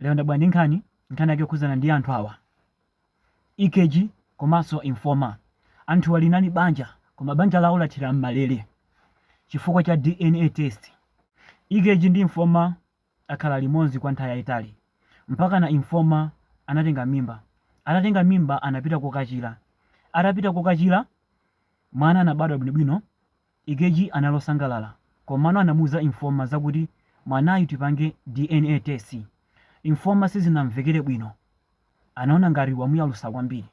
Lero ndabwera ndi nkhani, nkhani yake yokhudzana ndi anthu awa, EKG komanso Informer. Anthuwa linali banja koma banja lawo lathera m'malere chifukwa cha DNA test. EKG ndi Informer akhala limodzi kwa nthawi yaitali mpakana Informer anatenga mimba. Atatenga mimba anapita kokachira. Atapita kokachira, mwana anabadwa bwinobwino. EKG anali osangalala komano anamuuza Informer zakuti mwanayu tipange DNA test. Informer sizinamvekere bwino anaona ngati wamuyalusa kwambiri.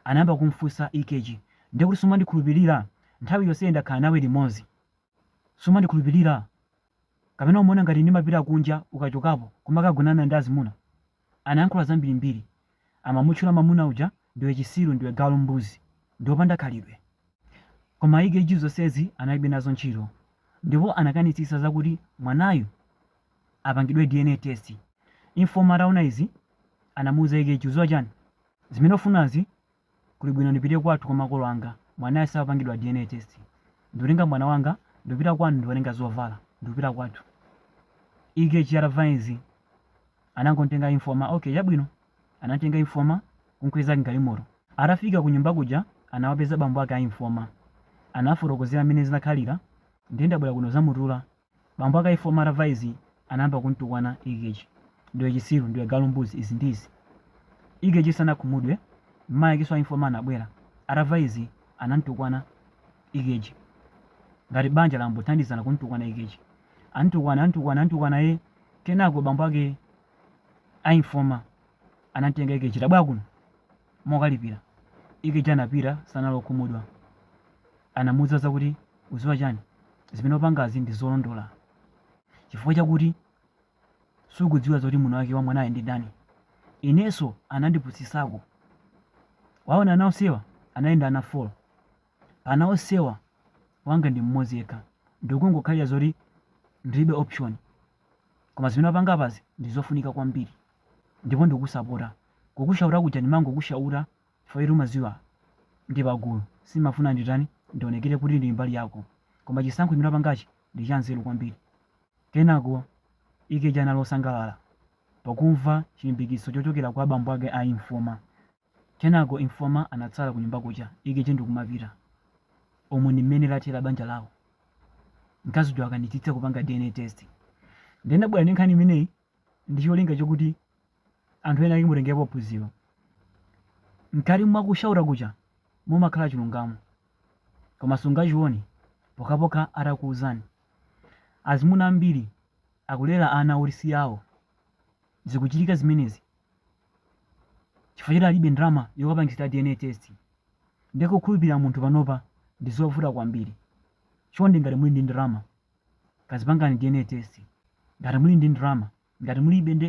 Anayamba kumfunsa EKG ndekuti sumandikhulupilira? Nthawi yonseyi ndakhala nawe limodzi sumandikhulupilira? Kapena umaona ngati ndimapita kunja ukachokapo kumakagonana ndi azimuna? Anayankhula zambirimbiri. Amamutchula mamuna uja ndiwe chisiru ndiwe galu mbuzi ndiwe wopanda khalidwe. Koma EKG zonsezi analibe nazo ntchito ndipo anakanitsitsa zakuti mwanayu apangidwe DNA test. Informer ataona izi anamuuza EKG uziwa chani? Zimene ukufunazi Kuli bwino ndipite kwathu kwa makolo anga mwanayo sapangidwa DNA test. Ndikutenga mwana wanga ndipita kwanu ndikukatenga zovala ndikupita kwathu. EKG atamva izi anangomtenga Informer, okay chabwino. Anamtenga Informer kumkweza m'galimoto. Atafika kunyumba kuja anawapeza bambo ake a Informer. Anawafotokozera m'mene zinakhalira ndiye ndabwera kuno kuzamutula Bambo ake a Informer atamva izi anayamba kumtukwana EKG. Ndiwe chitsiru, ndiwe galu mbuzi izi ndi izi. EKG sanakhumudwe, mayi akenso a Informer anabwera. Atamva izi anamtukwana EKG. Ngati banja langothandizana kumtukwana EKG. Antukwana, antukwana, antukwana ee. Kenako bambo ake a Informer anamtenga EKG, tabwera kuno. mokalipira EKG anapita sanali okhumudwa anamuuza zakuti uziwa chani zimene upangazi ndizolondola chifukwa chakuti sukudziwa zoti mwini wake wa mwanayu ndi ndani ineso anandipusisako waona ana onsewa anali ndi ana 4 pa ana onsewa wanga ndi mmodzi yekha ndikungokhalira zoti ndilibe option Koma zimene wapanga apazi ndi zofunika kwambiri ndipo ndikusapota. Kukushauta kuja ndimangokushauta chifukwa choti umadziwa ndi pagulu sindimafuna nditani, ndionekere kuti ndili mbali yako. Koma chisankho chimene wapangachi ndi chanzeru kwambiri. Kenako EKG anali wosangalala pakumva chilimbikitso chochokera kwa bambo ake a Informer. Kenako Informa anatsala kunyumba kuja EKG ndikumapita. Umu ndimmene lathera banja lawo. Mkazi uja akanitsitsa kupanga dna test. Ndinabwera ndi nkhani imeneyi ndicholinga chokuti anthu ena ake mutengerepo phunziro. Mkati mwa ku shaura kuja mumakhala chilungamo. Koma sungachione pokhapokha atakuuzani. Azimuna ambiri akulera ana oti si awo. Zikuchitika zimenezi chifukwa choti alibe ndalama yokapangisira dna test ndiye kukhulupirira munthu panopa ndi zovuta kwambiri chonde ngati muli ndi ndalama kazipangani dna test ngati muli ndi ndalama ngati mulibe nde